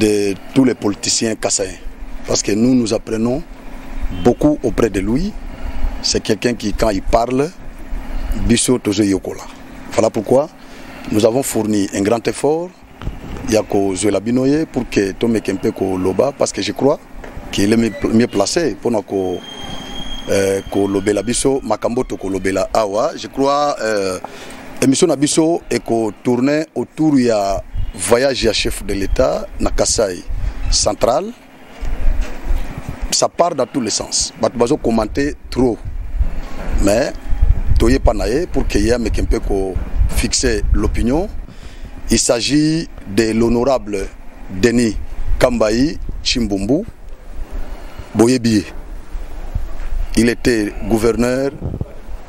de tous les politiciens kassaïens. Parce que nous, nous apprenons beaucoup auprès de lui. C'est quelqu'un qui, quand il parle, biso tozo yokola. Voilà pourquoi nous avons fourni un grand effort ya kozwela bino ye pour que tomeke mpe koloba parce que je crois qu'il est mieux placé mpona ko euh, kolobela biso makambo tokolobela awa je crois euh, Emission na biso eko tourner autour ya voyage ya chef de l'État na Kasaï central. Ça part dans tous les sens. Bato bazo commenter trop. Mais toye pa na ye pour que ye ameke mpe ko fixer l'opinion. Il s'agit de l'honorable Denis Kambayi Chimbumbu Boyebi. Il était gouverneur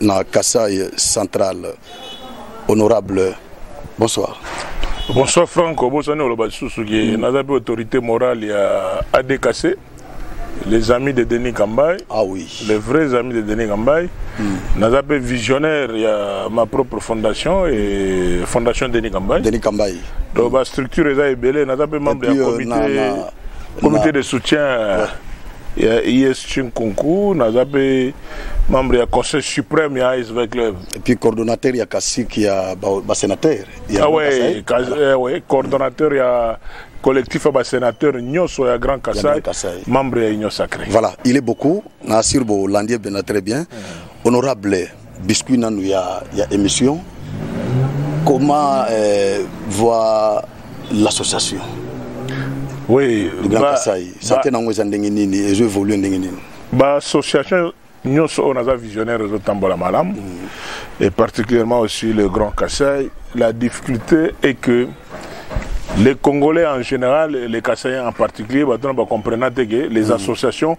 na Kassai central honorable bonsoir bonsoir franco bosani oloba lisusu ke mm. naza mpe autorité morale ya adkc les amis de Denis Kambay. Ah oui. Les vrais amis de Denis Kambay. Mm. Nous avons visionnaire, il y a ma propre fondation et fondation Denis Kambay. Denis Kambay. Donc, mm. la structure est belle, nous avons membre du euh, comité, na, na, comité na... de soutien. Ouais. ya IS Chinkunku naza mpe membre ya conseil suprême ya ASV club et puis coordonnateur ya kasik ya basénateur ba ah ouais, kas, eh, ouais, coordonnateur ya collectif ya basénateur nyonso ya grand kasai membre ya union sacré voilà il est beaucoup na assure bolandi ebena très bien mm. honorable biscuit nanu ya, ya émission comment euh, voir l'association oui, le grand ba, kasai sante nango eza ndenge nini ezo évolue ndenge nini baassociation nyonso oyo naza visionnaire ezotambola malamu mm. et particulièrement aussi le grand kasai la difficulté est que les Congolais en général, les Kassayens en particulier, bah, bah, comprennent que les mm. associations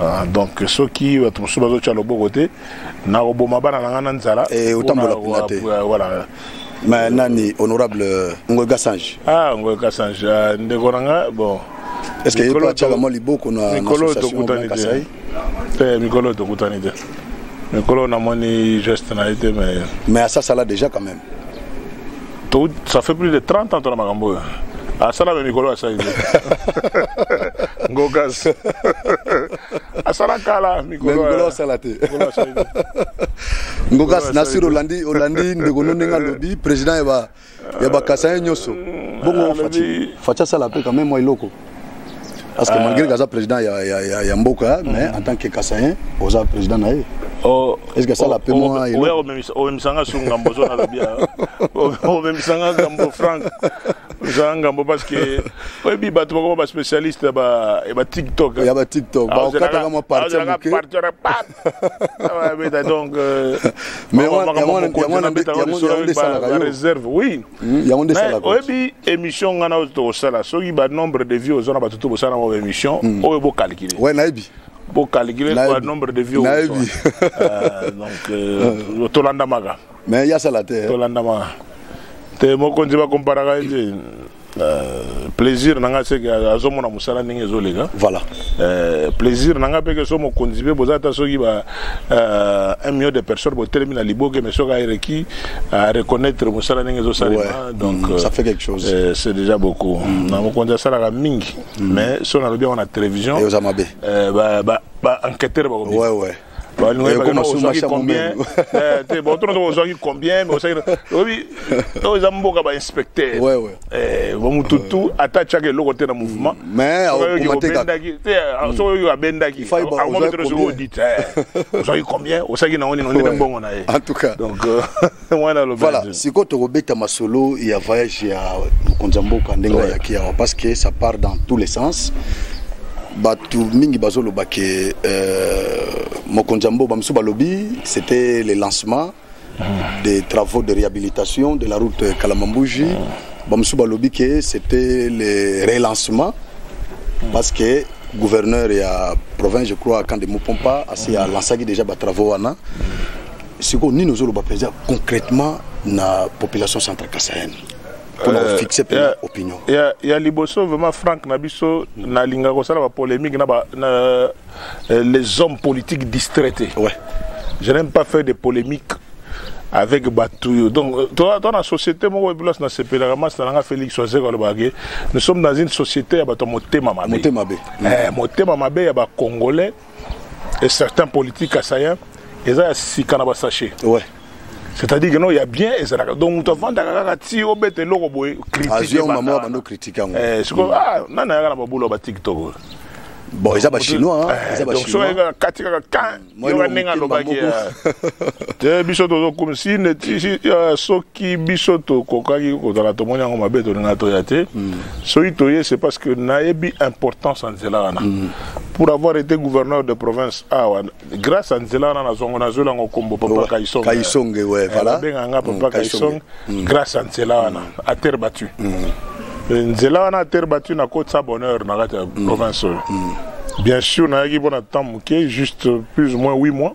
Ah, donc soki bato mosusu bazotya loboko te nakoboma bana na ngai na nzala eh, otambola kuna te voilà mais nani honorable euh, ngoy gasange ah ngoy gasange ah, ndeko na nga bon est ce que yepo atyaka mwa liboko na mikolo tokutani te te mikolo tokutani te mikolo namoni geste na ye te mais mais asasala déjà quand même To, ça fait plus de 30 ans tona makambo oyo. Asala me mikolo asali nde. Ngokas. Asala kala mikolo. Mikolo asala te. Mikolo asali nde. Ngokas na sur Olandi Olandi ndeko no ndenge alobi président ya ba ya ba Kasaye nyoso. Bongo Fatshi Fatshi asala pe quand même moi eloko. parce que euh, malgré que aza président ya, ya, ya, ya mboka mm. mais en tant que kasayen oza président na ye oh, est ce que asala oh, pe oh, mwa oya omemisanga su ngambo ozo nalobi omemisanga ngambo frank ozala ngambo parce que oyebi bato bakoma baspécialiste ya batiktok ya batiktok bakataka mwa parti ya moke abeta donc réserve oui oyebi émission ngai na oyo tokosala soki banombre de vie oza na bato to bosala yango baémission hmm. oyo bocalcule ouais nayebi bocalcule nombre de vie oyebi donc tolanda maka mais ya sala te tolandama te mokonzi bakomparaka ye te Euh, plaisir na nga seke azomona mosala ndenge ezoleka voilà euh, plaisir na nga mpe ke so mokonzi mpe boza ata soki ba euh, un million de personnes botelemi na liboke mais soki aereki a reconnaître mosala ndenge ezosalema ouais. donc mm, ça fait quelque chose euh, c'est déjà beaucoup mm. na mokonzi asalaka mingi mm. mais so nalobi yango na télévision eoza mabe euh, ba, ba, ba enquêteur bakobisa ouais, ouais. ozwaki combien eh, te bon tuna ozwaki combien mais osaki oyebi oyo eza mboka ba inspecteur eh, bamututu ata atyaka eloko te na mouvement maisbendaki te ah, soki oyo abendaki amoki te soki odite ozwaki combien osaki nango nino ndene mbongo na ye donc euh, voilà sikoyo tokobeta masolo ya voyage ya mokonzi ya mboka ndenge ayaki awa parce que ça part dans tous les sens bato mingi bazoloba ke euh, mokonzi ya mboka bamosusu balobi c'était le lancement ah. des travaux de réhabilitation de la route kalamambuji ah. bamosusu balobi ke c'était le relancement ah. parce que gouverneur ya province je crois kande mopompa asi alancaki déjà batravaux wana sikoyo nini ozoloba mpenza concrètement na population centre kasaine mpona euh, kofixe mpe ya, opinion ya, ya liboso vraiment frank na biso mm. nalinga kosala bapolémique na, ba, na euh, les hommes politiques distraite ouais. je n'aime pas faire des polémiques avec Batouyo. Donc, euh, toi, dans la société, moi, je suis CP, la ramasse, la Félix, nous sommes dans une société, il y a Moté Mamabé. Moté Mamabé. Moté Mamabé, il y a Congolais. et certains politiques kasaïens eza ya sika na basachet ouais. c'est-à-dire que non ya bien ezalaka donc moto afandaka kaka ti obeta eloko boye critiquebando critique yango eh, sikoyo mm. ah, nani ayaka na babula ba tiktok oyo bon eza bachinois eh, kati kaka kan yoka ndenge alobaki te biso tozokomisi neti soki biso tokokaki kozala tomoni yango mabe tolinga toya te mm. soki toye c'est parce que nayebi importance ya nzela wana mm. pour avoir été gouverneur de province awa ah, grâce à nzela wana nazwango nazweli yango nkombo papa kaisonge kaisonge ouais, eh, voilà. abenga nga papa mm, kaisonge mm. grâce à nzela wana mm. à terre battue mm. Eh, nzela wana à terre battue nakotisa bonheur na kati ya mm. province oyo mm. bien sûr nayaki mpo na temps moke juste plus ou moins 8 mois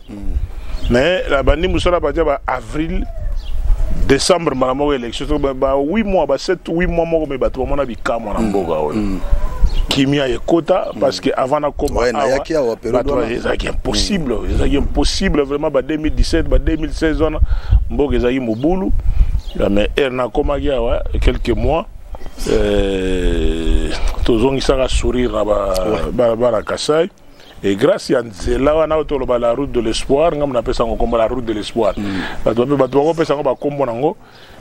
hmm. mais la bandi musala batia ba avril décembre mbala moko élection to ba 8 mois ba 7 8 mois moko me bato bamona bikamwa na hmm. mboka oyo hmm. kimia ekota parce que avant nakoma awa ezalaki impossible ezalaki impossible vraiment ba 2017 ba 2016 wana mboka ezalaki mobulu mais ere nakomaki awa quelques mois euh, tozongisaka sourire na balabala kasai et grâce ya nzela wana oyo toloba la route de l'espoir ngambo napesa yango nkombo la route de l'espoir mm. bato bape bato bakopesa yango bakombo na yango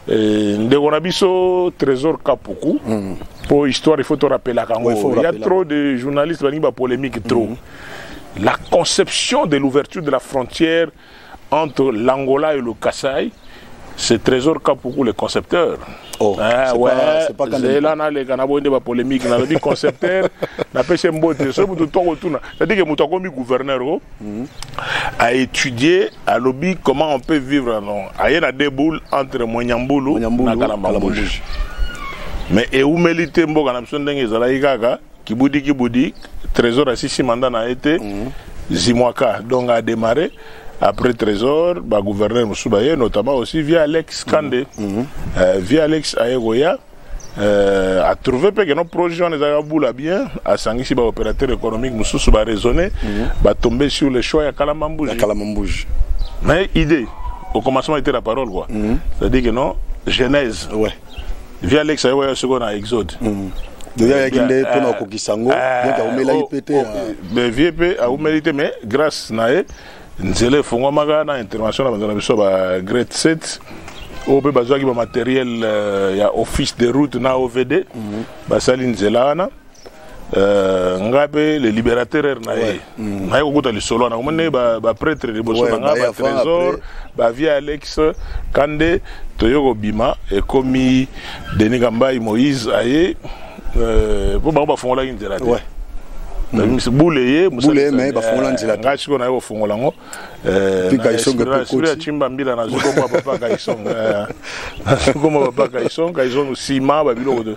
eh, ndeko na biso trésor kapuku mm. mpo histoire ifo torapelaka yango il y a trop de journalistes balingi bapolémique trop mm. la conception de l'ouverture de la frontière entre l'Angola et le Kassai, c'est Trésor Kapoukou, le concepteur. Oh, ah, ouais, pas, pas zela naleka na boyende bapolémique nalobi concepteur napesi mbote soki moto to akotuna cetadire ke moto akomi gouverneur o oh, mhm. a étudié alobi comment on peut vivre non aye na deux boules entre moinyambulu na kalambambouge mais eumeli te mboka na biso ndenge ezalaki kaka Kibudi kibudi Trésor asisi mandat na ye te. Mm. Zimwaka donc a démarrer après Trésor ba gouverneur mosusu baye notamment aussi via Alex Kande. Mm. Mm. Euh, via Alex aye koya euh, a trouvé pe que no projet wana ezalaka bula bien asangisi ba opérateur économique mosusu ba raisonner mm. ba tomber sur le choix ya Kalamba Mbuji. Ya Kalamba Mbuji. Mais idée au commencement était la parole quoi. Mm. C'est-à-dire que non genèse. Ouais. vie alex ayo ya soko na exode mm. deja ayaki nde eh, mpona kokokisa yango eh, donc aumelaki oh, mpe te oh, eh. vie mpe aumeli te mais grâce na ye nzela efongwamaka na intervention na banzo na biso ba grade 7 oyo mpe bazwaki bamateriel euh, ya office de route na ovd mhm. basali nzela wana Euh, nga mpe le libérateur na ye mm. naye kokota lisolo wana omoni bapretre liboso na nga batrésor bavie alex kande toye kobima ekomi denis kambai moïse aye mpo euh, bango bafungolaki nzela te mm. bule ye nga sikoyo naye kofungola yango ya cimba mbila nazwi kombo ya papa kaisong nazwi kombo ya papa kaisong kaisong nsima babiloko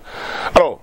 alors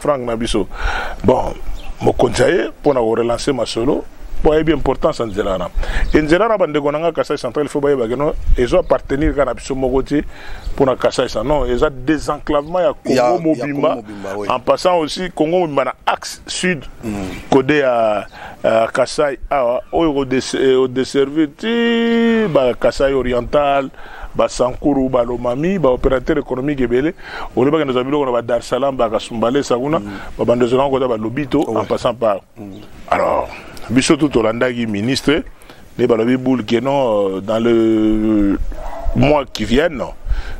frank na biso bon mokonzi ya ye mpo na korelance masolo mpo ayebi importance ya nzela wana e nzela wana bandeko na ngai kasai central fo bayeba keno ezo appartenir kaka na biso moko te mpo na kasai sa non eza désenclavement ya congo mobimba en passant aussi congo mobimba na axe sud mm. kode ya uh, kasai awa ah, oyo odeservir ti bakasai oriental basankuru balomami baopérateur économique ebele olobaki ndozala biloko na ba dar salam bakasumbalesa kuna mm. babando ezolanga kota balobi to en passant par mm. alors biso tu tolandaki ministre nde balobi boule ke non euh, dans le mois qui viennent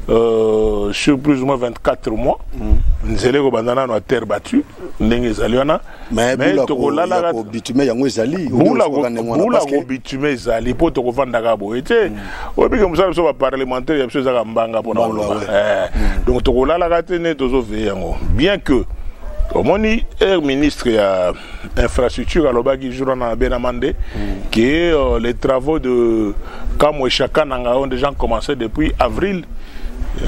euh, sur plus ou moins 24 mois mm. nzela ekobanda nano ya terre battue ndenge ezali wana mais bula tokolalaka ko bitume yango ezali bula ko bula ko bitume ezali po tokovandaka boye te mm. oyebi ke mosala biso baparlementaire ya biso ezaka mbanga mpona koloba eh. mm. donc tokolalaka te nde tozoveye yango bien que omoni air ministre ya infrastructure alobaki jour wana na benama nde mm. ke euh, les travaux de kamwe chaka na ngai ont déjà commencé depuis avril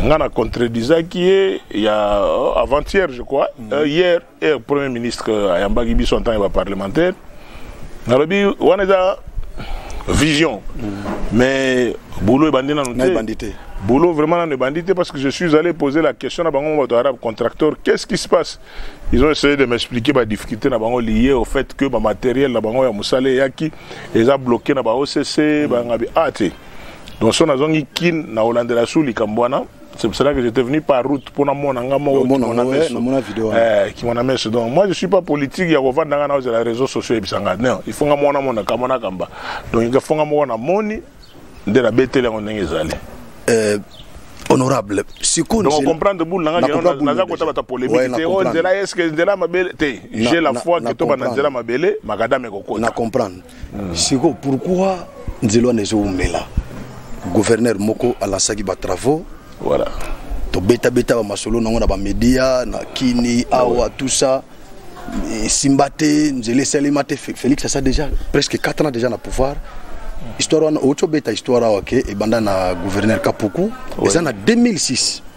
ngai na contredisaki ye ya euh, avant-hier je crois euh, hier heure premier ministre euh, ayambaki biso en tant que baparlementaire nalobi wana eza vision mm. mais boulot ebandi nanu te boulot vraiment nanu ebandi te parce que je suis allé poser la question na bango bato arabe contracteur qu'est-ce qui se passe ils ont essayé de m'expliquer badifficulté na bango lié au fait que bamatériel na bango ya mosala eyaki eza bloqué na baocc mm. bangabi a ah, te donc so nazongi kin na olandela su likambo wana C'est pour cela que j'étais venu par route pour mon anga moko mon anga mon vidéo. Eh, qui mon amène donc moi je suis pas politique ya kovanda nanga na les réseaux sociaux ebisanga. Non, il faut nga mona mona kamona kamba. Donc il faut nga mona moni de la betele ngo ndenge ezali. Euh honorable sikoyo donc comprendre boule nanga kino naza kotaba ta polémique te o nzela est ce que nzela mabele te j'ai la foi que toba na nzela mabele makadame ekokota na comprendre siko pourquoi nzela wana ezowumela gouverneur moko alansaki batravaux voilà. tobetabeta bamasolo nango na bamedia na kini awa tout ça esimba te nzela esalema te félix asa déjà presque 4 ans déjà na pouvoir histoire wana outi obeta histoire awa ke ebanda na gouverneur kapuku eza na 2006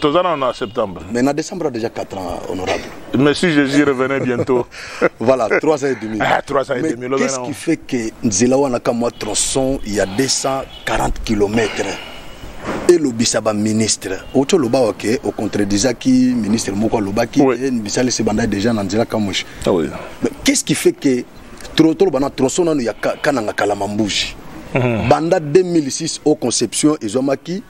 toza nano na septembre mais na décembre a déjà 4 ans honorable mais si jésus revenait bientôt voilà 3 ans et demi ah, 3 ans et demi qu'est ce qui fait que nzela wana ka mwa tronçon ya 240 km elobisa baministre oti oloba wake ocontredisaki ministre moko alobaki te bisalisi banda déjà na nzela kamushi ah qu'est ce qui fait que toloba na tronçon nano ya kananga kalama mbuji mhm. banda 2006 au conception ezwamaki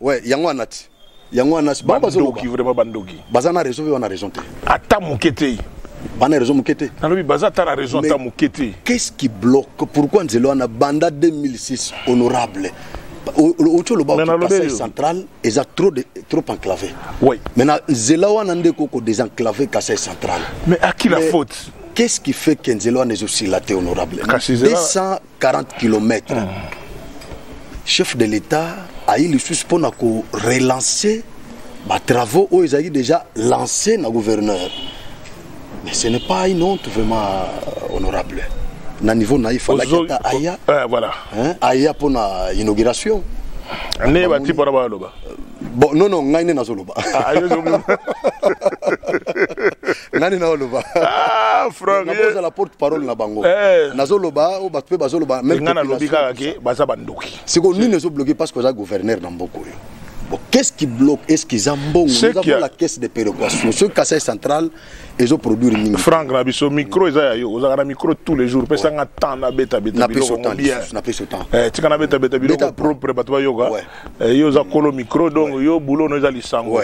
Ouais, yango anati. Yango anasi. Ba bazo loki vraiment bandoki. Baza na raison, wana raison te. Ata mukete. Bana raison mukete. Nalobi baza ata na raison ata mukete. Qu'est-ce qui bloque Pourquoi Nzelo ana banda 2006 honorable otie oloba kasai central eza trop, de, trop enclavé oui. maintenant nzela wana nde koko désenclavé kasai central mais à qui la faute qu'est-ce qui fait que nzela wana ezosila te honorable 200 40 kilomètre chef de l'état ayi lisusu mpo na korelancer batravaux oyo ezalaki déjà lancé na gouverneur mais ce n'est pas une honte vraiment euh, honorable na niveau na ye falaki ata aya eh, voilà. hein, aya mpo na inauguration nde bati mpo na baloba bon non non ngai nde nazoloba ah, nani na oloba ah, nakozala porte parole na bango eh. nazoloba oyo bato mpe bazoloba nga nalobi kaka ke baza bandoki sikoyo nini ezobloke parce que oza gouverneur na mboka oyo Bon, qu'est-ce qui bloque Est-ce qu'ils ont bon Nous avons a... la caisse de péréquation. Ce casse central, ils ont produit une minute. Franck, na biso micro ils ont vous avez un micro tous les jours. Pesa nga temps na beta beta. Na pesa temps. Na pesa temps. Eh, tika na beta beta biloko propre bato ba yoga. Eh, yo za kolo micro donc yo boulot no za lisango.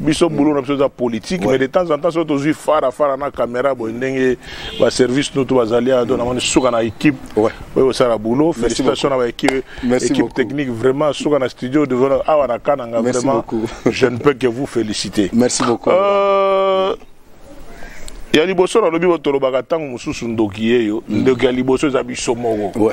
biso boulot na biso eza politique mais de temps en temps soki tozwi fara fara na caméra boye ndenge baservice no to bazali ado mm. namoni suka na équipe oyo osala boulot félicitation na baéquipe équipe technique vraiment suka na studio devant awa na kananga vraiment je ne peux que vous féliciter merci beaucoup euh, ya liboso nalobi bo tolobaka ntango mosusu ndoki yeyo mm. ndoki ya liboso eza biso moko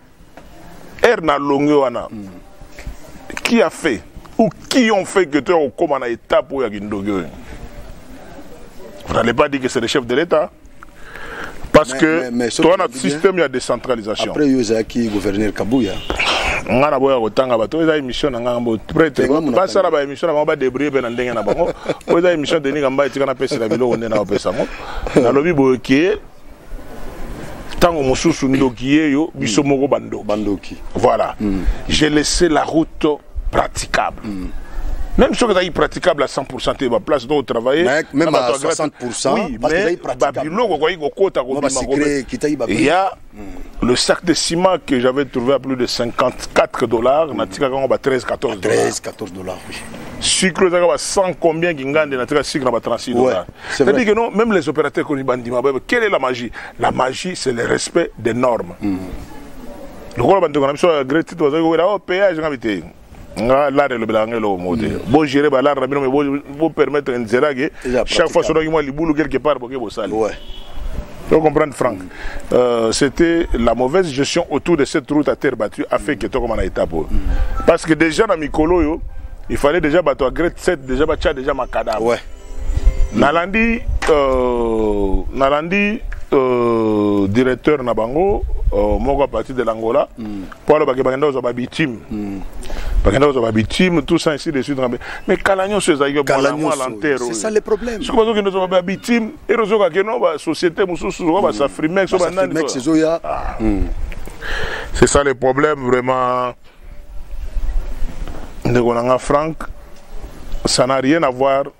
ere na longue wana mm. qui a fait ou qui ont fait que tu au coma na étape oyo ya kindoki oyo vous n'allez pas dire que c'est le chef de l'état parce mais, que mais, mais, towana système ya décentralisation après yo ezalaki gouverneur kabuya nga na boya kotanga bato eza émission na nga bo prêtre basala ba émission na bango badebrie mpe na ndenge na bango oyo eza émission denis kamba etika napesela biloko nde na opesa yango nalobi boye ke ntango mosusu ndoki yeyo biso mm. moko bandoki bandoki voilà mm. j'ai laissé la route praticable mm. même soki ezalaki praticable à 100 te baplace donc travaille même à 60 oui, mais babiloko okoki kokota kobimaya le sac de ciment que j'avais trouvé à plus de 54 dollars mm. natikaka yango ba 13 14 13 14 dollars oui sucre ezalaka ba 100 combien kingande natika sucre na ba 36 dollars ouais. C'est-à-dire que non, même les opérateurs connus bandima, quelle est la magie La magie, c'est le respect des normes. Mm. lokola bandeko na biso ya great titre bazali kokela o oh, péage nga bitei nga lare elobelaka nga eloko moko te mm. bogere balare na bino me bopermettre nzela ke chaque fois sodaki mwa libulu quelque part boke bosali to comprendre frank Euh, c'était la mauvaise gestion autour de cette route à terre battue a fait que tokoma na étape oyo parce que déjà na mikolo oyo il fallait déjà bato ya grade 7 déjà batya déjà makadama ouais. nalandi euh, nalandi euh, directeur na bango euh, moko à partir de l'angola mm. mpo alobaki bakenda kozwa babitime hmm. bakenda kozwa babitime tout ça ainsi de suite mais kala nyonso ezalaki mwa lenteur oyosoki bazokende ozwa babitime ero ozokake no basociété mosusu ozoka basafrimex o banani ezoya ah. hmm. c'est ça le problème vraiment ndeko na nga frank ça n'a rien à voir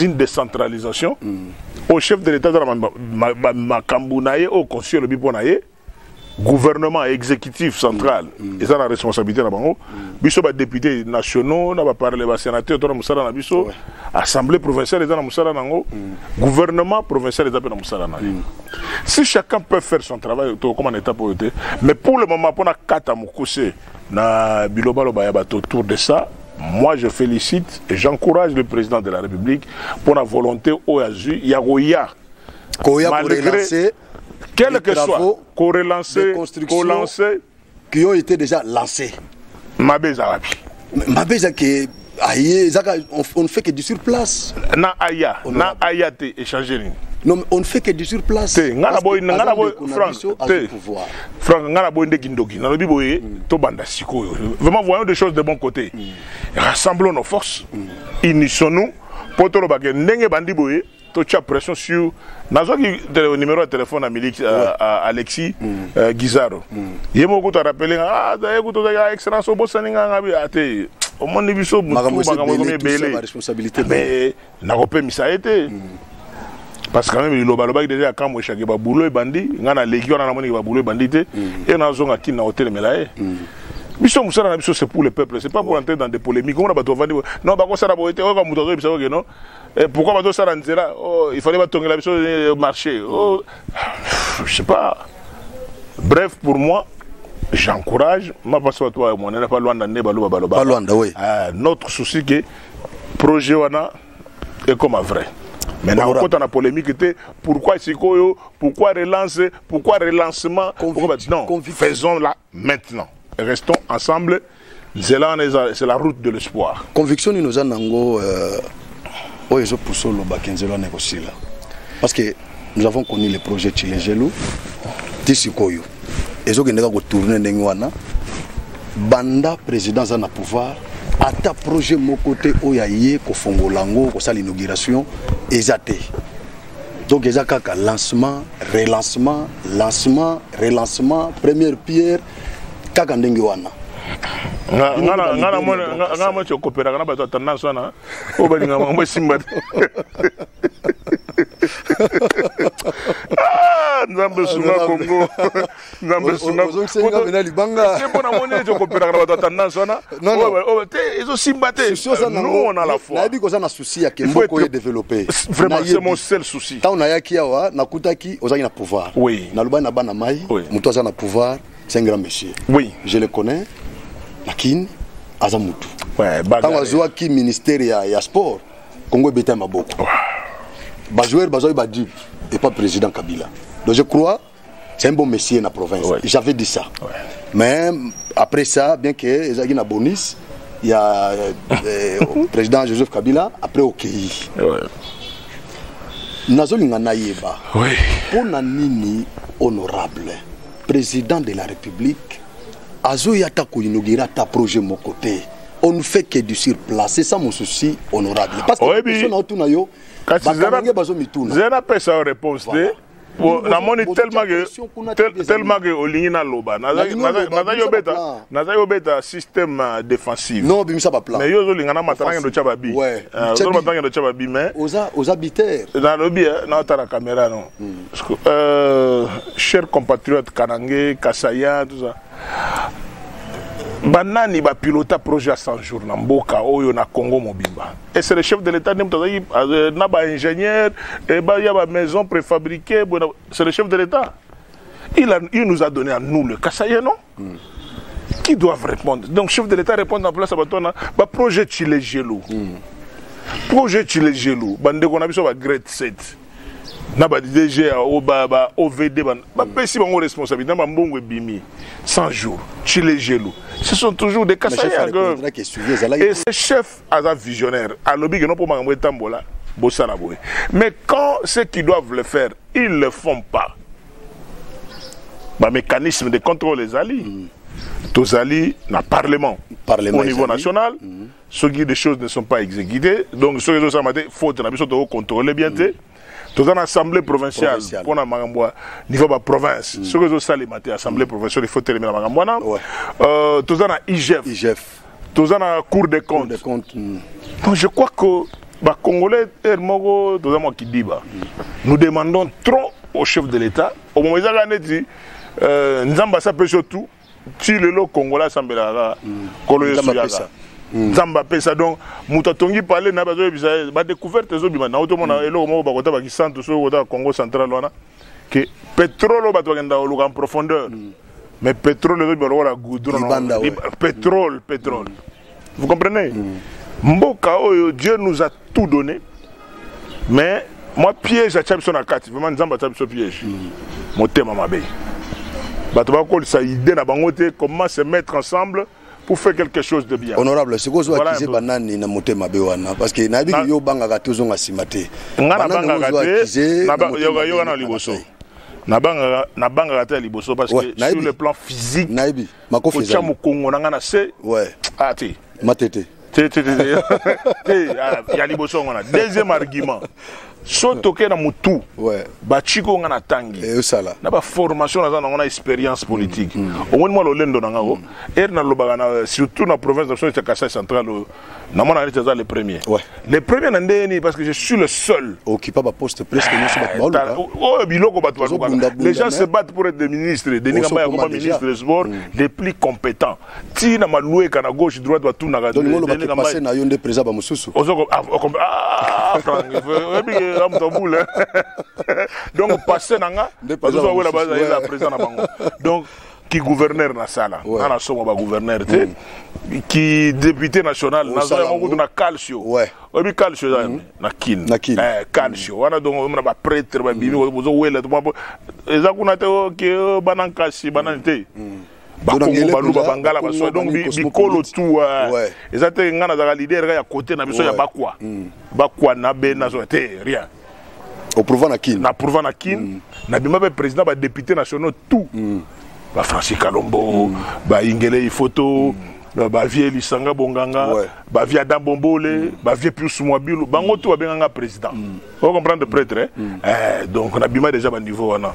une décentralisation mm. au chef de l'état aza na makambo na ye oyo constitution elobi mpo na ye gouvernement exécutif central mm. eza na responsabilité na bango mm. biso badéputé nationaux na baparle basénateur to na mosala na biso ouais. assemblée provinciale eza na mosala na yango mm. gouvernement provincial eza mpe na mosala na ye mm. si chacun peut faire son travail tokokoma na étape oyo te mais pour le moment mpo na kata mokuse Na bilobaloba ya bato autour de ça, moi je félicite et j'encourage le président de la République pour la volonté oyo azwi ya koya koya korelancer quel que soit korelancer kolancer qui ont été déjà lancés mabe eza wapi mabe eza ke aye ezaka on ne fait que du sur place na aya na aya te échanger nini non on ne fait que du sur place te nga na boy nga na boy frank te frank nga na boy nde kindoki na lobi boye mm. to banda sikoyo vraiment voyons des choses de bon côté mm. rassemblons nos forces mm. unissons nous poto lobake ndenge bandi boye to tia pression sur nazwaki numéro ya telefone ya miliki euh, alexis mm. euh, gizaro mm. ye moko kutu arapele nga ah, azaye kutu ozaki ah, excellence obosani nga ngabi ate ah, omoni biso makambo ekomi ebele mais nakopemisa ye te mm. parce que quand même liloba alobaki deja ya kambo eshake babulo ebandi ngai naleki wana namoniki babulo ebandi te e nazonga kini na kotelemela ye biso mosala na biso c'est pour le peuple c'est pas pour entrer dans des polémiques omona bato bavandi non bakosala boye te oyoka moto azoyebisa oke non Eh, pourquoi bazo sala nzela oh, il fallait batongela biso eh, marché oh, je sais pas bref pour moi j'encourage mapasi bato bayo monene pa lwanda nde baloba baloba lwanda oui. euh, notre souci ke projet wana ekoma vrai mais nakokota na polémique te pourquoi sikoyo pourquoi relance pourquoi relancement pourquoi... non faisons la maintenant restons ensemble nzela wana eza c'est la route de l'espoir conviction nini oza nango euh, oyo ezopusa oloba ke nzela wana ekosila parce que nous avons connu le projet chilejelu ti sikoyo ezokende kaka kotourne ndenge wana banda président aza na pouvoir ata projet moko te oyo aye kofongola yango kosala inauguration eza te donc eza kaka lancement relancement lancement relancement première pierre kaka ndenge wana nga na mwa tokopelaka na bato ya tendance wana oyo balinga mambo esimba te ah, nzambe sunga congo nzambe sungampona moni ete okopelaka na bato ya tendance wana ezosimba te nous on a la foi souci ya kemboko ye développer vraiment c'est mon seul souci ntango nayaki awa nakutaki ozalaki na pouvoir oui nalobani na bana mai oui. motu aza na pouvoir c'est un grand monsieur oui je le connais na kin aza motu ntango azwaki ministère ya, ya sport congo ebeta ya maboko bajoueur bazwaki badipe epa président kabila donc je crois c'est un bon monsieur na province ouais. j'avais dit ça ouais. mais après ça bien que ezalaki na bonus ya eh, président joseph kabila après okei okay. ouais. nazolinga nayeba ouais. mpo na nini honorable président de la république azoya ata koinaugure ata projet moko te on ne fait que du sur place c'est ça mon souci honorable parce que oyebi na yo bakanange bazomituna zela pesa yo réponse te voilà. namoni tellement que tellement que olingi naloba nazali obeta nazali obeta système euh, défensif non obimisa ba plan mais yo ozolinga na matanga ndo tya babi euh, ozo matanga ndo tya babi mais oza oza biter nalobi eh, na otala caméra non hmm. euh, cher compatriote kanange kasaya tout ça banani bapilota projet ya 100 jours na mboka oyo na congo mobimba ese le chef de l'état nde moto azalaki euh, na baingénieur eh, ya bamaison préfabriqué c'est le chef de l'état il, a, il nous a donné à nous le kasaye non mm. qui doivent répondre donc chef de l'état répondre na place ya bato wana baprojet chile gelou mm. projet chile gelou bandeko na biso bagrade 7 na ba DG ya o ba ba OVD ba ba pesi bango responsabilité na mbongo ebimi 100 jours chile gelu ce sont toujours des kasaya et ce chef aza visionnaire alobi que non pour makambo etambola bosala boye mais quand ceux qui doivent le faire ils le font pas ba mécanisme de contrôle ezali mm. tozali na parlement, parlement au niveau national mm. soki des choses ne sont pas exécutées donc soki ezosalama te faute na biso tokocontrôle bien te mm. toza na assemblée provinciale mpo na makambo ya niveau baprovince mm. soki ezosalema te assemblée mm. provinciale ifo telemela makambo wana euh, toza na igf toza na cour des comptes donc je crois que bacongolais heure moko toza mwa kidiba nous demandons trop au chef de l'état omomo ezaka neti euh, nzambe asapesi yo tout ti lelo congolais asambelaka kaka mm. kolo yesu yaka mm. nzambe apesa donc moto atongi pale na bazoyebisa ye badécouverte ezobima nao tomona mm. eloko moko bakota bakisantu soki kota congo central wana ke pétrole oyo bato bakenda koluka en profondeur mais pétrole ezobima lokola goudron pétrole pétrole vous comprenez mm. mboka oyo dieu nous a tout donné mais moi piège atya biso na kati vraiment nzambe atya biso piège mm. motema mabe bato bakolisa idée na bango te comment se mettre ensemble pour faire quelque chose de bien honorable sikoyo ozoakize banani na motema mabe wana parce que nayebi yo obangaka te ozonga nsima te nga nabangaka te yoka na liboso nabangaka te ya liboso parce que sur le plan physique makofi ezali otia mokongo na nga na se ouais ah te matete te te te te ah, ya liboso ngana deuxième argument so toke na motu ouais. baciko nga na tangi eh, osala na baformation naza nango na expérience politique mm. omoni mwa lolendo na ngai o mm. ere nalobaka na surtout na province na biso ya kasai central oyo na mwana neti aza le premier ouais. le premier na ndenge nini parce que je suis le seul occupa baposte presque nyonso bato baoluka oyo oh, oh, biloko bato balukaka les gens se battent pour être des ministres denis kamba yakoma ministre de sport mm. les plus compétents ti na malueka na gauche droite batunaka passe na yo nde président bamosusu oyebi ah, ah, ah, ke amoto bule donc passe na nga bazozo awela baza président na bango donc ki gouverneur nasala ouais. nga nasomba bagouverneur te mm. ki député national nazwa yango kutu na calcio ouais. oyebi calcio eza mm. na kin na kin eh, calcio mm. wana donc omona baprêtre babimi mm. bozowela eza kuna te oke oh, oh, bana nkasi bana mm. te mm. bakongo baluba bangala baso donc bikolo tu eh. eza te ngai nazalaka lider ya kote na biso ya bakwa mm. bakwa na bena te rien oprouva na kin na prouva na kin mm. na bima mpe président badéputé nationaux tout mm. bafrancis kalombo mm. baingele ifoto mm. bavie lisanga bonganga ouais. bavie ada bombole mm. bavie pius mwabilu bango tout babenganga président mm. o comprendre prêtre eh? mm. eh, donc na bima déjà baniveau wana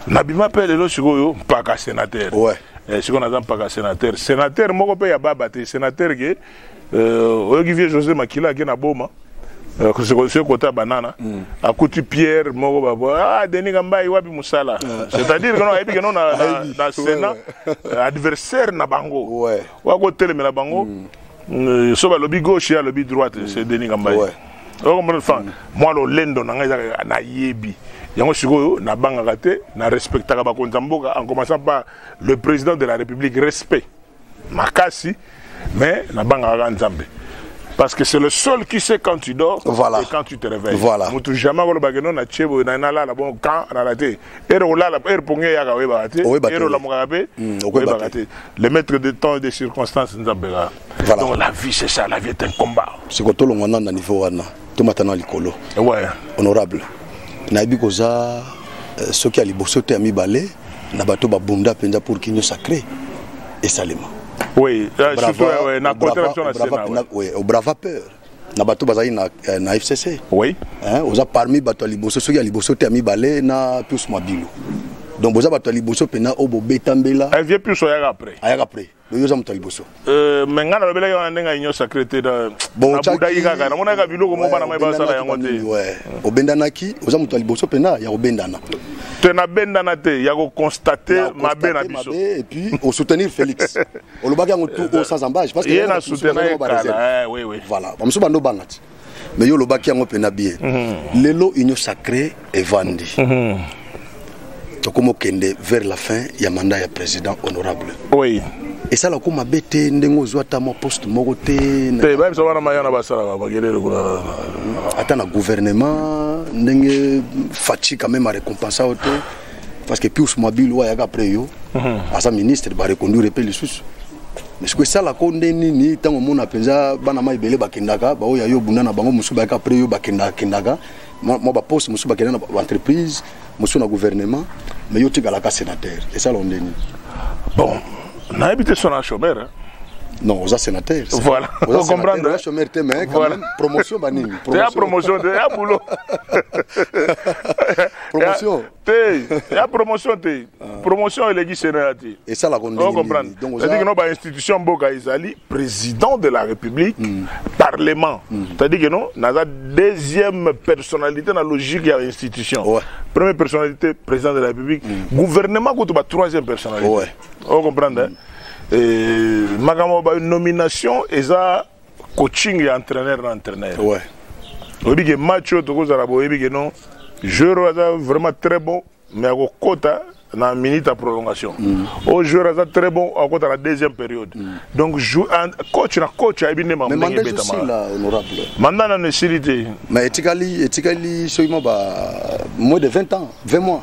na bima mpe lelo sikoyo mpaka sénateur ouais. eh, sikoyo naza mpaka sénateur sénateur moko mpe ya baba te sénateur ke Euh, oyoki vieux josé makila ake na boma euh, soki kota banana mm. akuti pierre moko babo ah, denis kambai wapi mosala ah. c'est-à-dire keno ayebi keno na, na, na sénat euh, adversaire na bango ouais. wakotelemela bango mm. Euh, so balobi gauche ye alobi droite mm. c'est denis kambai ouais. okomona fa mm. mwa lolendo na ngai ezaka nayebi yango sikoyo nabangaka te na respectaka bakonzi ya mboka en commençant par le président de la république respect makasi mais nabangaka kaka nzambe parce que c'est le seul qui sait quand tu dors voilà. et quand tu te réveilles voilà. mutu jamais akolobaka no na tie boye nalala bon quand alala te ere olala ere pongi eyaka oyebaka te ere olamukaka mpe hmm, oyebaka te le maître de temps et de circonstances nzambe kaka voilà. donc la vie c'est ça la vie est un combat siko tolongwa nano na niveau wana tomata na likolo ouais. honorable nayebi koza euh, soki ya liboso te ya mibale na bato babunda mpenza pour kinio sacré esalema oui, euh, surtout, euh, na brava, brava, brava, na, oui, au brava peur na bato bazali na, euh, na fcc oui. hein, oza parmi bato ya liboso soki ya liboso te ya mibale na pius mabilu donc boza bato ya liboso mpena oyo bobeta mbela eh, vieux pius ayaka après ayaka après loyo oza moto ya liboso euh, me ngai nalobelaki wana ndenge union sacré te nabudaki kaka namonaki kaka biloko moko bana mai basala yango te obendanaki oza moto ya liboso mpena ya kobendana te nabendana te ya kokonstate mabe na biso epuis osoutenir félix olobaki yango tu osazambage ye na soutenaki kala eh, voilà bamosusu bando banga ti mais yo olobaki yango mpena bien mhm. lelo union sacré evandi mhm. tokoma okende vers la fin ya mandat ya président honorable oui esala ko mabe te ndenge ozwa ata mwa poste moko te te bayebisa wana mayana basalaka bakelele kuna ata na gouvernement ndenge faci quand même arécompensa yo te parce que pius mabili oyo ayaka après yo mhm. aza ministre bareconduire mpe lisusu mais soki esalaka nde nini ntango omona mpenza bana ma ebele bakendaka baoyo ya yo obunda na bango mosusu bayaka après yo bakendakendaka mwa baposte mosusu bakenda na baentreprise mosusu na gouvernement mais yo otikalaka sénateur esalaka nde nini bon nayebi te sona chomere non oza sénateur voilà ocomprendre oza chômeur te mais quand voilà. même promotion banini promotion ya promotion te ya boulot promotion te ya promotion te ah. promotion eleki senela te esalaka ndengecestadire no bainstitution mboka ezali président de la république mm. parlement mm. c'est-à-dire que non naza deuxième personnalité na logique ya institution ouais. première personnalité président de la république mm. gouvernement kutu ba troisième personnalité ouais. ocomprendre mm. makambo banomination eza coaching ya entraîneur na entraîneur ouais. oyebi ke match oyo tokozala boyebi ke non joueur oyo aza vraiment très bon mais akokɔta na minute ya prolongation mm. oyo joueur aza très bon akɔta na deuxième période mm. donc coach na coach ayebi nde mambo ndenge ebetamaka manda nano esili te mais etikali etikali soki mwa ba moins de 20 ans 20 mois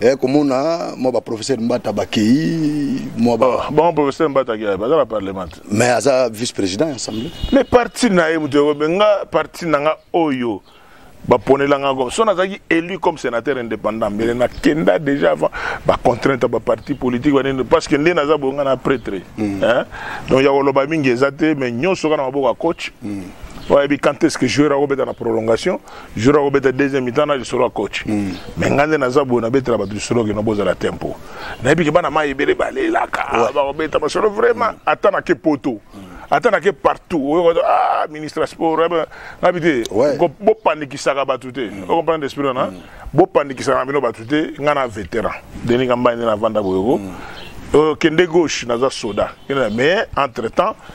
eh, komona mwa baprofesseur mbata bakei mwa ba... oh, bango professeur mbata akei baza na parlement mais aza vice président ya assemblée mais parti na ye moto ekobe nga parti na nga oyo baponela nga comme so nazalaki élu comme sénateur indépendant mbele nakenda déjà avant bacontrainte ya baparti politique banini parce que nde naza boye nga na prêtre mm. donc ya koloba mingi eza te mais nyonso kaka na maboko ya coach mm. oyebi quand est ce que joueur akobeta na prolongation jour akobeta deuxième mitan na lisolo ya coach mm. mais ngai nde naza boye nabetela bato lisolo kino bozala tempo nayebi ke bana mai ebele balelaka ah, bakobeta masolo vraiment mm. ata nake poto mm. ata nake partout oyoka ah, ministre ya sport eh nabi te bopanikisaka bato te okomprendre esprit wana bopanikisaka na bino bato te ngai na vétéran deninga mbai nde navanda boyoko okende gauche naza soda mais entre temps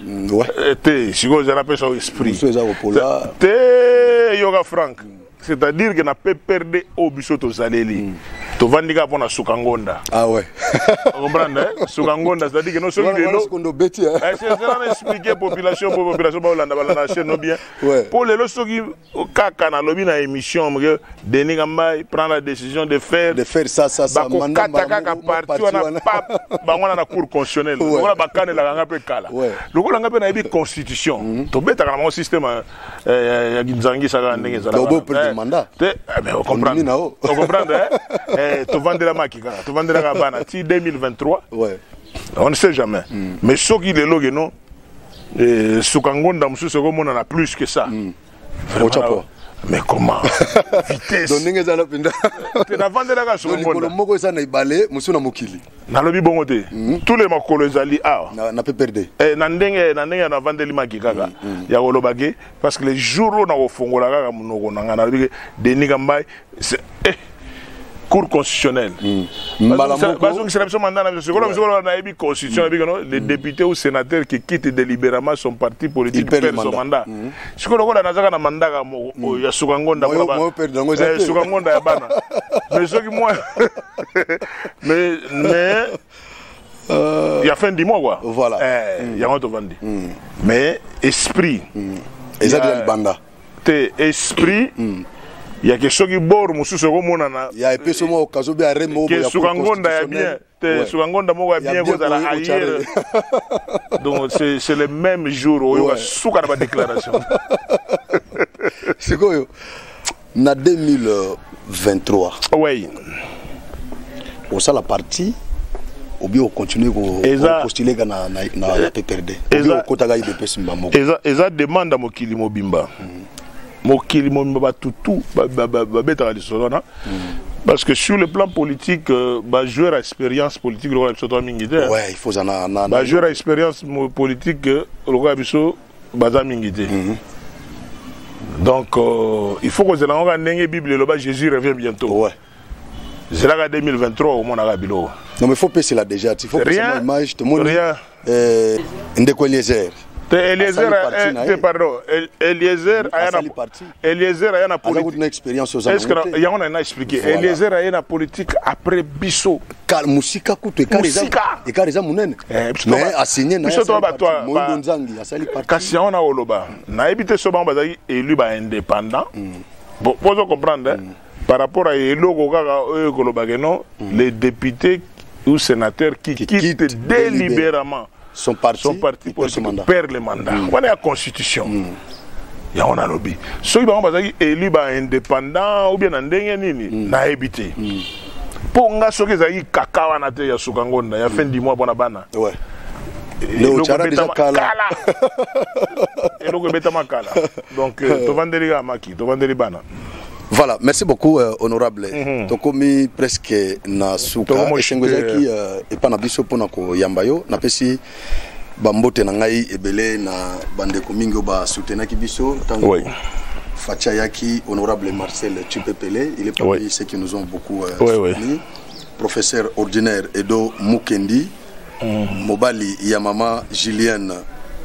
Mm, ouais. Eh, te sikoyo eza napesa yo esprit te yoka frank mm. c'est-à-dire que na pprd oyo biso tozaleli mm. tovandi kaka mpo na suka ngonda ah ouais. comprendre eh? suka ngonda c'est-à-dire que no soki lelozelana eh? eh, expliquer population po population baolanda balanda chaine no bien mpo lelo soki kaka nalobi na émission que denis kambai prend la décision de faire de faire ça ça ça bakokata kaka parti wana pap bango wana na cour constitutionnelle lokola bakanelaka nga mpe kala lokola nga mpe nayebi constitution mhm. tobetaka na bango système euh, euh, ya nzangisa kaka ndenge ezalaka te eh, mais ocomprendre ocomprendre eh, tovandelamaki kaka tovandelaka bana ti 2023 on ne sait jamais mhm. mais soki lelo keno suka ngonda mosusu ekomonana plus que ça mm. Vraiment, mais comment vitesse donc ndenge eza na mpenza te navandelaka solikolo moko eza na ebale mosusu na mokili nalobi bongo te mhm. tous les makolo ezali awa na pprd eh, na ndenge na ndenge navandeli maki kaka mhm, mhm. ya kolobaki parce que le jour oyo nakofongola kaka monoko na ngai nalobi ke denis kambai eh, cour constitutionnelle hmm. bazongisela biso manda na biso sikola biso koloba nayebi constitution hmm. yebikano les hmm. députés ou sénateurs qui quittent délibérément son parti politique perd son mandat sikoyo lokola nazaka na manda kaka moko oyo ya suka ngonda eh, suka ngonda ya bana mais soki mwa mais Euh, ya fin du mois quoi voilà eh, mm. yango tovandi mm. mais esprit mm. eza deja libanda te esprit mm. ya ke soki bor mosusu ekomonana ya epeso moko okazo be are moko ke suka ngonda ya bien te suka ngonda moko ya bien kozala ayer donc c'est le même jour oyoka suka na badéclaration sikoyo Na 2023. Oui. Osala parti obi ocontinue kopostuler na, na, na, na PPRD obi okotaka IDPS mba moko. Eza, eza demande ya mokili mobimba. Mm -hmm. mokili mobimba bato tout babetaka lisolo wana parce que sur le plan politique euh, bajoueur ya expérience politique lokola biso toa mingi te bajoueur ya expérience politique euh, lokola biso baza mingi te mm -hmm. donc euh, il faut kozela yango kaka ndenge bible eloba jésus revient bientôt ouais. zelaka 2023 omonaka biloko non mais faut pesela déjà ti faut pesela image tomoni euh, ndeko eliezer te eliezer eh, te pardon eliezer aya na Eliezer aya na politique. na experience oza Est-ce que yango na na expliquer. Voilà. Eliezer aya na politique après biso. Kal musika kutu et kare musika. Et kare za munene. Eh, Mais a signé na. Biso to ba to. Mondo Nzangi asali parti. Kasi yango na oloba. Na ebite so bango bazali élu ba indépendant. Mm. Bon, vous comprenez. Mm. par rapport à eloko kaka oyo koloba que non mm. les députés ou sénateurs qui, qui quittent, quittent délibérément son parti, son parti politique perd le mandat mm. wana ya constitution mm. yango nalobi soki bango bazalaki élu ba indépendant ou bien na ndenge nini mm. nayebi te mm. mpo nga soki ezalaki kaka wana te ya suka ngonda ya fin du mois mpo na bana ouais. eloko ebetama kala donc euh, tovandeli kaka maki tovandeli bana Voilà, merci beaucoup euh, honorable. Mm -hmm. Tokomi presque na suka. Esengo ezaki euh, epa na biso pona ko yamba yo. Napesi bambote na ngai ebele na bandeko mingi oyo basutenaki biso ntango oui. facha yaki honorable marcel chipepele il est parmi oui. ceux qui nous ont beaucoup euh, oui, soutenu oui. professeur ordinaire edo mukendi mm. mobali ya mama julienne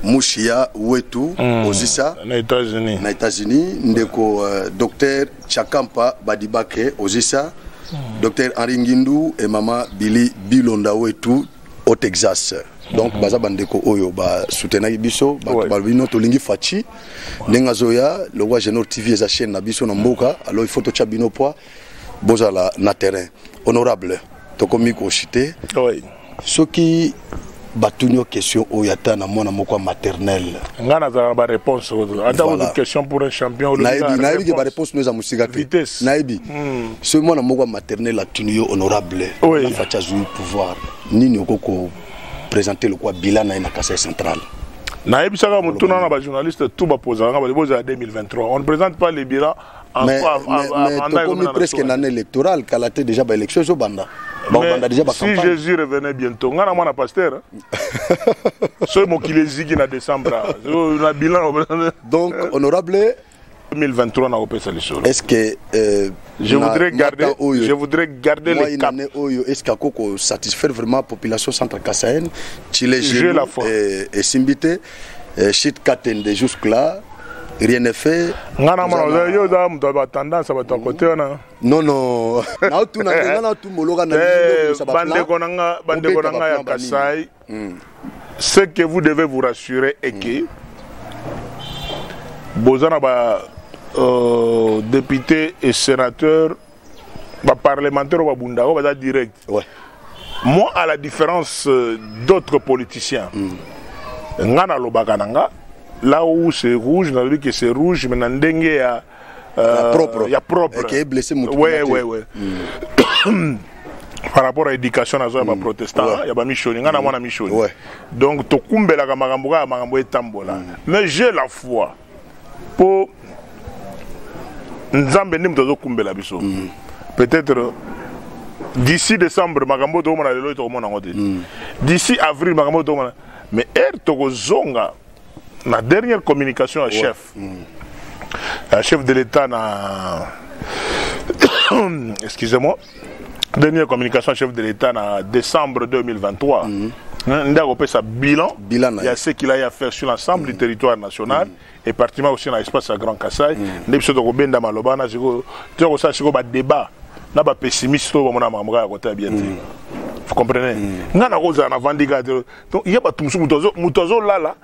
mushia wetu mm. ozisa na états-unis na états-unis ndeko uh, euh, docteur chakampa badibake ozisa mm. docteur henri ngindu e mama bili bilonda wetu au texas donc baza bandeko oyo basutenaki biso bato babino tolingi faci ndenge azoya lokwa genor tv eza chaîne na biso na mboka alors il faut totya bino poids bozala na terrain honorable tokomi koshite oui. soki batuni yo question oyo ata na mwana moko ya maternele ngai nazalaka baréponse ata voilà. question pour un champion nayebi nayebi ke baréponse no eza mosika te nayebi hmm. soki mwana moko ya maternele atuni yo honorable oui. na faci azwi pouvoir nini okoki kopresente lokola bila na ye na kasai central nayebisaka motuna na bajournaliste tout bapozaka bali bozala 2023 on ne présente pas les bilan mais, mais, mais tokomi presque na année électorale kala te déjà baélection ezobanda bakobanda déjà bacampagne si jésus revenait bientôt ngai na mwana pasteur soki mokili eziki na décembre na bilan donc honorable 2023 na kopesa lisolo est ce que euh, je, na, voudrais garder, oyo, je voudrais garder les cap oyo est ce que akoko satisfaire vraiment population centre kasaine chile esimbi te eh, shit katende jusque là rien n'est fait nga na mona oza yo oza moto ya batendance ya bato ya kote wana non non naotuna nde nga natumoloka na eh, bandeko na nga bandeko na nga ya kasai hmm. ce que vous devez vous rassurer est que boza na ba euh, député et sénateur ba parlementaire ba bunda ba baza direct ouais. moi à la différence euh, d'autres politiciens mm. nga na lobaka na nga là où c'est rouge na lobi que c'est rouge mais na ndenge ya euh, ya propre ya propre qui est blessé mutu ouais ouais ouais mm. par rapport à éducation nazo ya mm. ba protestant ouais. ya ba mishoni nga na mm. mwana mishoni ouais. donc tokumbelaka makambo kaka makambo etambola mm. mais j'ai la foi mpo nzambe nde moto azokumbela biso mm. peut-être d'ici décembre makambo oyo tokomona lelo oyo tokomona yango te mm. d'ici avril makambo oyo tokomona mais ere tokozonga na dernière communication ya chef mm. ya chef de l'état na excusez-moi dernière communication chef de l'État en décembre 2023 mm -hmm. sa bilan, bilan il y a ce qu'il a à faire sur l'ensemble du mm. territoire national mm. et particulièrement aussi dans l'espace à Grand Kassai mm. nde biso tokobenda maloba na sikoyo tokosala sikoyo badébat na bapessimiste oyo bamona makambo kaka kotala bien te vous comprenez ngai nakozala na vandi kaka te donc ye bato mosusu moto azolala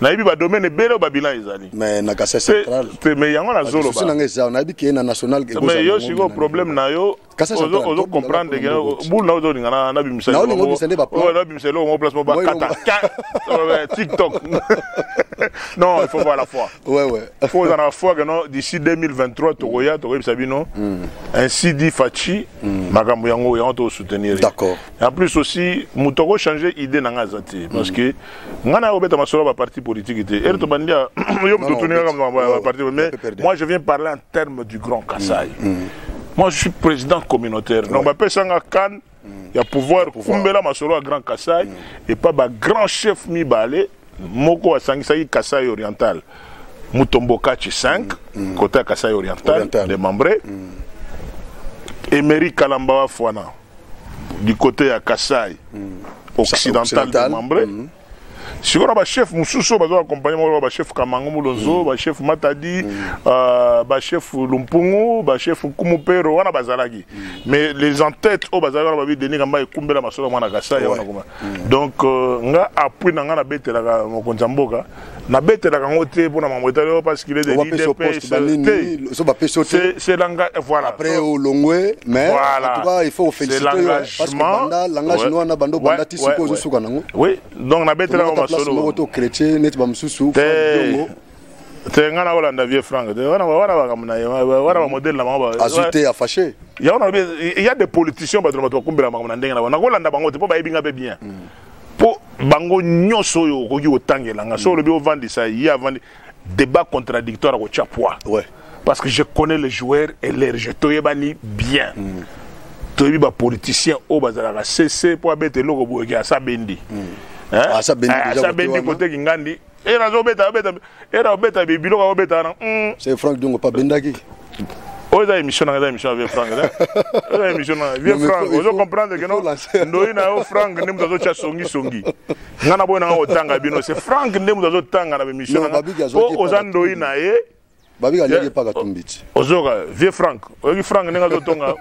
nayebi ba domaine ebele ba bilan ezali mais na kasa central te mais yango na zolo ba nanga eza nayebi ke na national ke mais yo siko problème na yo ozo ozo comprendre que boule na ozo lingana na bimisa na olingo bisende ba plan na bimisa lo place mo ba kata TikTok non il faut voir la foi ouais ouais faut dans la foi que non d'ici 2023 tokoya tokoyebisa bino hmm. ainsi dit Fatshi hmm. makambo yango yango to soutenir d'accord En plus aussi, moto ako changer idée na nga zati parce que nga na obeta masolo ba parti politique te. Erto bandia yo moto tuni nga kama ba parti mais moi je viens parler en termes du grand Kasaï. Mm, mm. Moi je suis président communautaire. Donc ba pesa nga kan mm. ya pouvoir kumbela masolo à grand Kasaï et pas ba grand chef mi balé moko asangisaki Kasaï oriental. Mutombo Kachi 5 côté Kasaï oriental démembré. Emery Kalamba Fwana. du côté ya Kassai mm. occidental, occidental. membre mm. sikoyo na bachef mosusu oyo bazwa accompagne moko bachef kamango molonzo mm. bachef matadi mm. euh, bachef lumpungu bachef kumupero wana bazalaki mm. mais les entêtes oyo bazalaki wana babi denis kamba ekumbela masolo mwana kasai wana koma donc euh, nga appui na nga nabetelaka mokonzi ya mboka nabetelaka yango te mpo na mambo etali oyo parce qu'il est de l'idpscest langage voilà après olongwe mais voilà. en tout cas il faut oféliciter parce que banda langage ouais. noana banda obanda ti sikoyo ozosuka nango oui donc nabetelaka masolo moko to chrétien neti bamosusu bongo te ngai nakolanda vieux frank te wana bakambo na ye wana bamodele na bango azwi te afashe yango nalobi ya de politiciens bato na bato bakumbela makambo na ndenge na bango nakolanda bango te mpo bayebi ngai mpe bien mm. po bango nyonso oyo okoki kotangela nga so olobi ovandisa ye avandi débat contradictoire akotya poids ouais. parce que je connais les joueurs et leur jeu toyebani bien mm. toyebi bapoliticien oyo bazalaka sese mpo abeta eloko boyeke asa bendi mm. eh? asa bendi koteki ngandi era azobeta abeta era obeta biloko akobeta wana hmm. c'est frank dongo pa bendaki oyo eza émission nanga eza émission ya vieux frank eza émission nanga vieux frank ozo comprendre ke no ndoi na yo frank nde moto azotya songisongi ngai na boyi nanga kotanga bino se frank nde moto azotanga na bémission nanga po oza ndoi na ye babika aliaki epa katumbi ti ozoyoka vieux frank oyoki frank ndenge azotonga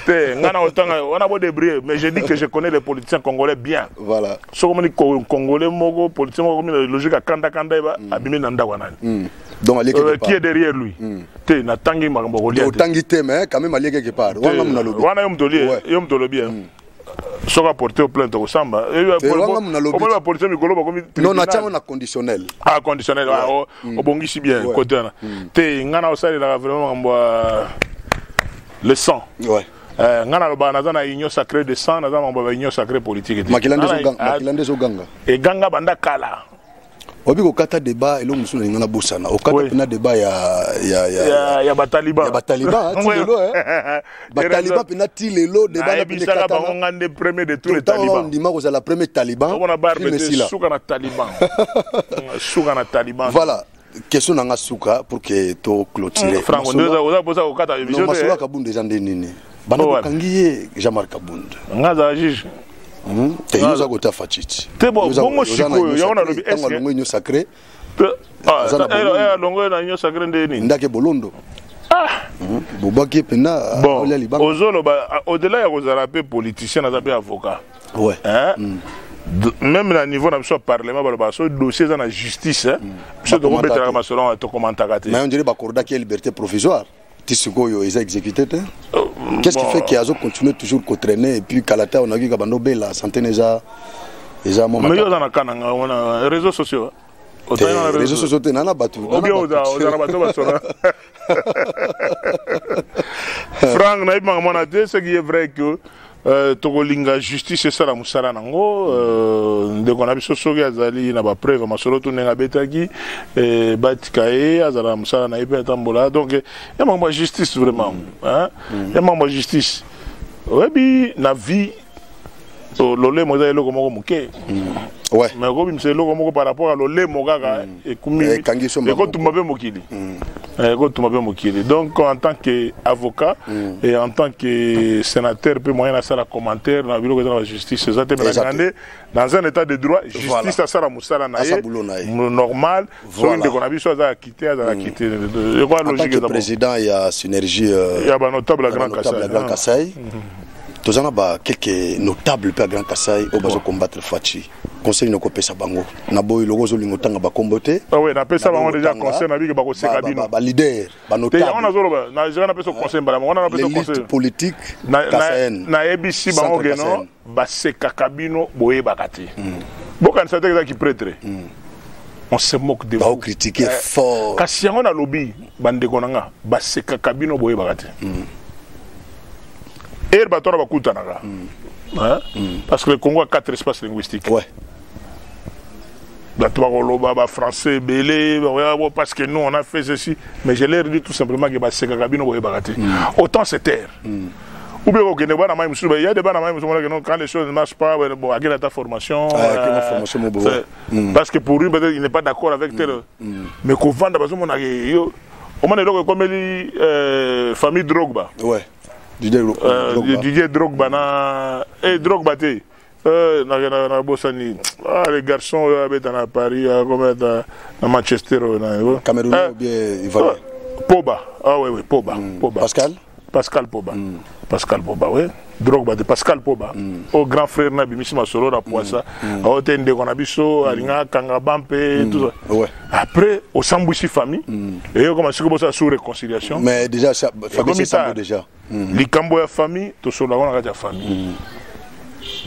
te ngai nakotanga wana bodebrie mais je dis que je connais les politiciens congolais bien voilà soki omoni congolais moko politicien moko akomi na logique ya kanda kanda yeba mm. abimi na ndako ya nani mm. donc alieki euh, qui est derrière lui mm. te natangi makambo okolia otangi te mais quand même alieki quelque part wana yo moto olie yo moto olobi soki aporte yo plainte okosamba omoni bapolisie mikolo bakomi non natya yango na conditionnel ah conditionnel ah, oh, mm. obongisi bien kote wana mm. te ngai na osalelaka vraiment makambo ya le sang eh, ngai nalobaka naza na union sacré de sang naza makambo ya union sacré politique te makila nde ezoganga eganga banda kala oyebi kokata deba eloko mosusu nalinga na bosana okata Oui. mpena deba ya ya- ya- ya ya bataliba ya bataliba ti lelo eh. bataliba mpena ti lelo deba na mpende nayebisaka bango katana nga nde premier de tous les ntango talibans ondima kozala premier taliban omona barbe crime te esila suka na taliban Mm, suka na taliban voilà question na nga suka pour que to clôturer franco nde oza- oza- oza kokata Non, emission te, masolo eh. ya kabunda eza nde nini bana oh, bokangi ye jean marc abund nga azala juge hmm? te yo oza kota fatshiti te bongo sikoyo yango nalobi eske alongo union sacré ah, eh, alongo na union sacré nde nini ndake bolondo ah! hmm? bobwaki ye mpenza olia libanga ozoloba ah, au-delà ya kozala mpe politicien aza mpe avocat ouais. hein? mm. même na niveau na biso ya parlement balobaka soki dossier eza na justice biso tokobetelaka masolo wana tokomantaka te mais on dirait bakordaki ye liberté provisoire ti sikoyo eza exécuté te oh, qu'est-ce qui fait que azo continuer toujours ko traîner et puis kalata on a vu kabando bela santé eza eza mama mais yo za na kananga wana réseaux sociaux réseaux sociaux te nana bato ozana bato basona frank nayebimaka mwana te ce qui est vrai que Euh, tokolinga justice esala mosala nango euh, ndeko na biso soki azali na bapreuve masolo to ndenge abetaki euh, batika ye azala na mosala na ye mpe atambola donc ya makambo ya justice vraiment ya makambo ya justice oyebi na vie lolemo eza eloko moko moke mais okobimisa eloko moko par rapport ya lolemo kaka ekotumba mpe mokili mm. eh, ekotumba mpe mokili donc en tant que avocat mm. et en tant que sénateur mpe moyen nasala commentaire na biloko eza na bajustice eza te menanga nde dans un état de droit justice asala mosala na ye normal soki ndeko na biso aza akite azala mm. kite ekoa logique président ya synergie euh, ya banotable ya grand kasai mm-hmm. toza na bakelke notable mpe ya grand kasai oyo bazo combattre faci conseil noko pesa bango na boyi loko zo lingo tanga ba kombo te ah oui na pesa bango déjà conseil na biki ba ko seka bino ba leader ba notable te yango na zolo ba na jera na pesa conseil mbala mona na pesa conseil politique na na ABC bango geno ba seka kabino boye bakati hmm. bokan sa te que ki prêtre hmm. on se moque de vous critiquer eh, fort kasi yango na lobi ba ndeko na nga ba seka kabino boye bakati hmm. heure bato wana bakutanaka mm. hein? mm. parce que le congo a quatre espaces linguistiques ouais. bato bakoloba bafrançais ebele parce que nous on a fait ceci mais je leur dis tout simplement ke basekaka bino boyebaka te mm. autant se taire mm. ou bien kokende bana mai mosusu ya de bana mai mosusu monaka quand les choses ne marchent pas bon akenda ta formation ah, euh, formation mo euh, mm. parce que pour lui peut-être il n'est pas d'accord avec tel mm. Mm. mais kovanda bazomona yo omona eloko ekomeli euh, famille drogba ouais. didier, euh, drogba. didier drogba na e hey, drogba te euh, nabosani ah, les garçons oyo euh, abeta na paris akometa na manchester oyo nayo cameroun bien ivoirien poba ah oui oui poba mm. poba pascal Pascal Poba. Mm. Pascal Poba, oui. Drogba de Pascal Poba. Mm. Au oh, grand frère na bimisi masolo na poisa. Mm. Au oh, te ndeko na biso, mm. alinga kanga bampe, mm. tout ça. Ouais. Après, au sambouissi famille, mm. et au commencé comme ça sous réconciliation. Mais déjà, ça, famille c'est sambo déjà. Mm. Likambo ya famille, to solo na kati ya famille. Mm.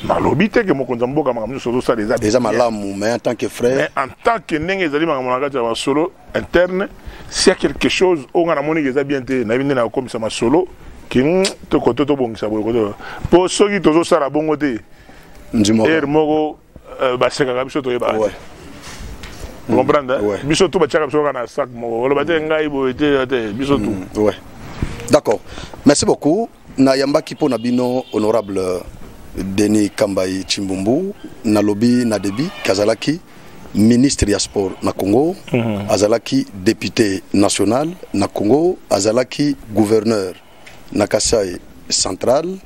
nalobi te ke mokonzi ya mboka makambo nyonso ozosala eza eza malamu mais en tant que frère mais en tant que ndenge ezali makambo na kati ya basolo interne s'il y a quelque chose oyo ngai namoni eza bien te nayebi nde nakokomisa masolo ke hmm, tokoto tobongisa boye koto mpo soki tozosala bongo te ere moko euh, basekaka biso toyebaka te hmm. comprendre biso tu batiaka biso kaka na sac moko oloba te hmm. ngai boye te te biso tu d'accord merci beaucoup nayambaki mpo na bino honorable denis kambai chimbumbu nalobi na debi kazalaki ministre ya sport na congo mm -hmm. azalaki député national na congo azalaki gouverneur na kasai central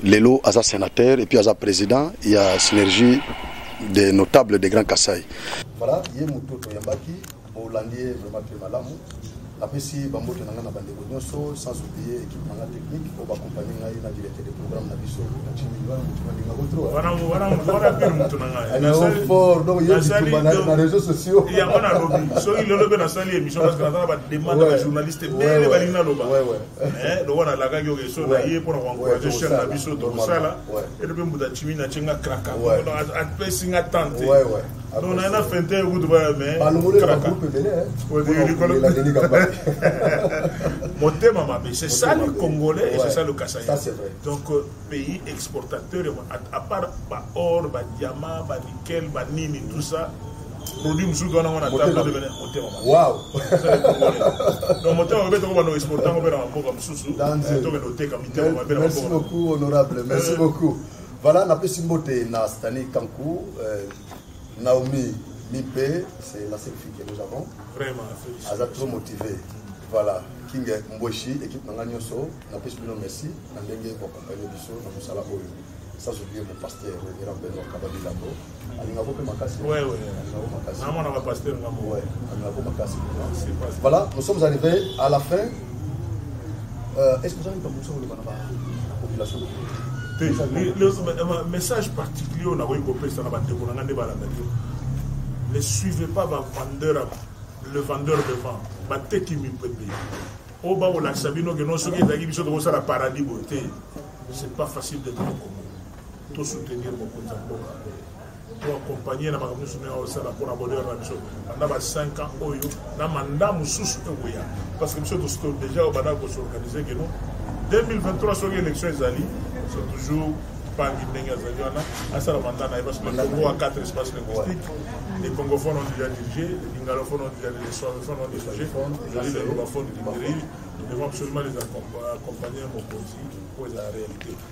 lelo aza sénateur et puis aza président ya synergie des notables de grand kasai voilà ye moto toyambaki bolandi ye vraiment mpe malamu napesi bambote na ngai na bandeko nyonso sans oublie équipe na ngai technique oyo bakompani ngai na directeur de programme na biso na réseau sociaux yango nalobi soki lelo mpe nasali émission parce que naza na bademande ya bajournaliste ebele balingi naloba lokola nalakaki oke so na ye mpo na koencourage chaine na biso tokosala ete mpe mbuta ntimi na tye nga kraka apesi nga tante non naye na fente kutu baya motema mabe c'est ça le congolais et c'est ça le kasaï donc euh, pays exportateur à part baor badiama banickel banini tout ça produit mosusu wana ngo na table adevene motema donc motema mabe toko bando exportango mpe na bamboka mosusu tokende oteka mitema mabe na bamboka merci beaucoup honorable merci beaucoup Voilà, napesi mbote na Stanley Kankou, euh, Naomi Mimpe, c'est la seule fille que nous avons. Vraiment, Elle est trop motivée. Voilà, King Mboshi, équipe Nanga Nyoso, napesi bino merci, na ndenge boaccompagne biso na mosala oyo. Ça, j'oublie mon pasteur, le grand Benoît Kabadi Lambo. alingako mpe makasi namona bapaster nga moye alingako makasi voilà nous sommes arrivés à la fin euh, est ce que ozali likambo mosusu koloba na population te message particulier oyo nakoki kopesa na bandeko na ngai nde balandaki ne suivez pas bavendeur le vendeur de vent bateki mipende oyo bakolakisa bino ke no soki ezalaki biso tokosala paradis boye te c'est pas facile d'être to soutenir mokonzi ya mboka to accompagne na makambo nyonso nayo osala mpona bonheur na biso banda ba 5 ans oyo na manda mosusu ekoya parce que biso tosito déjà oyo bandaki kosorganize keno 2023 soki élection ezali c'est toujours pangi ndenge azali wana asala manda na ye parce que le congo a quatre espaces linguistiques les congophones ont déjà dirigé les lingalophones ont déjà les swahilophones ont dirigé ezali les lobaphones qui dirigent nous devons absolument les accompagner mokonzi mpo ezala réalité